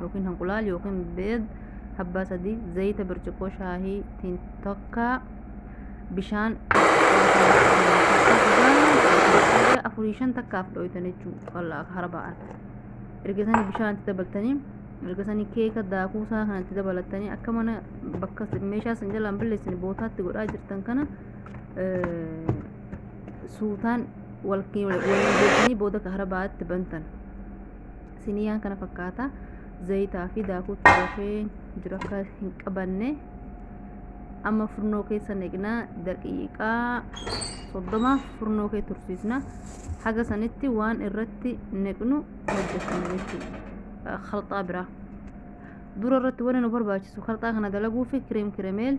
yookiin hanqulaal yookiin beed habbaa sadii zayita birciqoo shaahii tiin tokkaa bishaan afurii shan takkaaf dhoytan jechuu wallaa hara ba'an erga sanii bishaan itti dabaltanii erga sanii keeka daakuu isaa kana itti dabalatanii akka mana bakka meeshaa isin jalaan balleessin bootaatti godhaa jirtan kana suutaan wal wal booda ka hara ba'aatti bantan siniyaan kana fakkaata zayitaa fi daakuu turafee jiru akka hin qabanne amma furnoo keessa neqna daqiiqaa soddoma furnoo kee tursiisna haga sanitti waan irratti neqnu hojjetan jechuudha kalxaa biraa dura irratti wanni nu barbaachisu kalxaa kana dalaguufi kireem kiremeel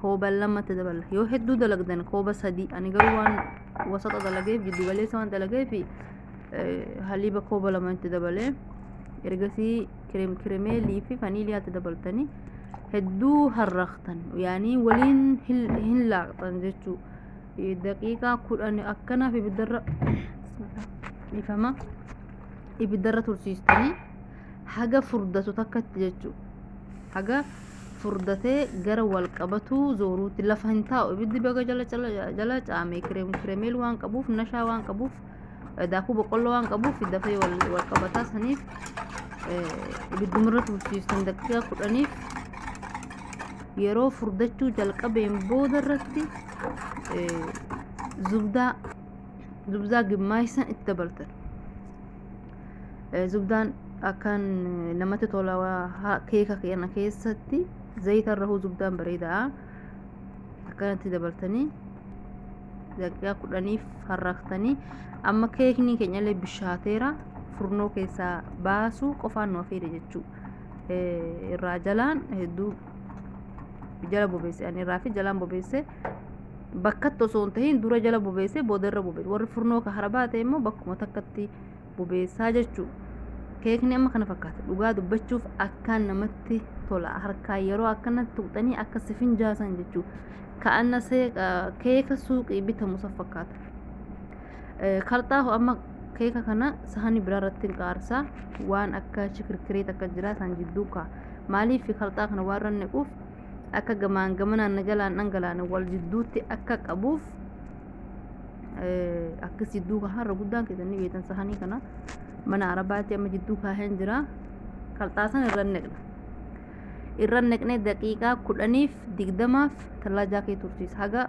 kooba lama itti daballa yoo hedduu dalagdan kooba sadii ani garuu waan wasaxa dalageef jiddu galeessa waan dalageef haliiba kooba lama itti dabalee ergasii kireem kiremeelii fi vaniiliyaa itti dabaltanii hedduu harraqtan yaanii waliin hin laaqxan jechuu daqiiqaa kudhan akkanaaf ibiddarra dhifama ibiddarra tursiistanii haga furdatu takkatti jechuu haga furdatee gara wal qabatuu zooruutti lafa hin taa'u ibiddi baga jala jala jala caame kireem kireemeel waan qabuuf nashaa waan qabuuf eh, daakuu boqqolloo waan qabuuf dafee wal wal qabataa saniif eh, ibidduma irra tursiiftan daqiiqaa kudhaniif yeroo furdachuu jalqabeen booda irratti eh, zubdaa zubdaa gimmaaysan itti dabaltan Eh, Zubdaan akkaan eh, namatti tola waa- ha- keeka kana keessatti zayita irra hoo zubdaan bareeda'a akkanatti dabaltanii daqiiqaa kudhaniif harraaktanii amma keekni keenyallee bishaateera furnoo keessaa baasuu qofaan nu hafeera jechuu Eh, irraa jalaan hedduu jala bobeesse ani irraa fi jalaan bobeesse bakkatti osoo hin tahin dura jala bobeessee booda irra bobeessa warri furnoo ka harabaa ta'e immoo bakkuma takkatti bobeessaa jechuu keekni amma kana fakkaata dhugaa dubbachuuf akkaan namatti tola harkaa yeroo akkanatti tuqxanii akka sifin jaasan jechuu ka'anna keeka suuqii bitamu san fakkaata kalxaahu amma keeka kana sahani biraa irratti hin qaarsaa waan akka shikirkireet akka jiraa san jidduu kaa maaliif kalxaa kana waan rannequuf akka gamaan gamanaan nagalaan dhangalaan wal jidduutti akka qabuuf akkas jidduu kaa har'a guddaan keessan ni beektan sahanii kana mana arabaatti amma jidduu kaaheen jira kalxaasan irra neqna irra neqnee daqiiqaa kudhaniif digdamaaf tallaajaa kee tursiisa haga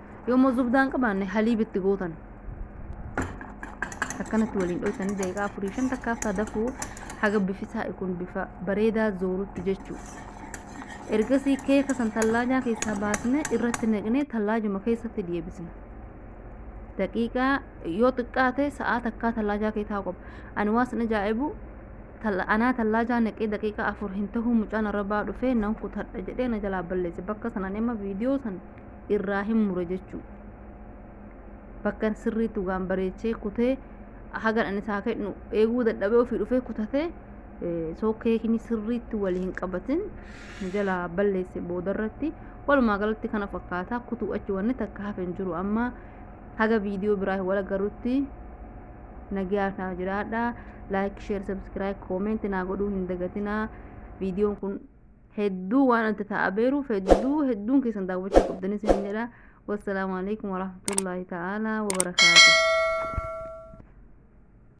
yoo immoo zubdaa hin qabaanne haliib itti gootan akkanatti waliin dhoysanii daqiiqaa afurii shan takka haftaa dafuu haga bifi saa'i kun bifa bareedaa zoorutti jechuu ergasii keeka san tallaajaa keessaa baasne irratti naqnee tallaajuma keessatti deebisne daqiiqaa yoo xiqqaate sa'aa takkaa tallaajaa kee taa'u qaba ani waan sin ajaa'ibu talla- anaa tallaajaa naqee daqiiqaa afur hin tahuu mucaan arabaa dhufee nan kutadha jedhee na jalaa balleesse bakka sanan amma viidiyoo san irraa hin mure jechuu bakkan sirriitti waan bareechee kutee hagan ani isaa kennu eeguu dadhabee ofii dhufee kutatee soo keekni sirriitti wal hin qabatin jalaa balleesse boodarratti walumaa galatti kana fakkaataa kutuu achi wanni takka hafe hin jiru amma haga viidiyoo biraa wal agarrutti nagaa naa jiraadha laayik sheer sabskiraayib koomeenti naa godhuu hin dagatinaa viidiyoon kun hedduu waan adda ta'aa beeruuf hedduu hedduun keessan daawwachuu qabdanis hin jedha wassalaamu alaikum warahmatullaahi ta'aalaa wabarakaatu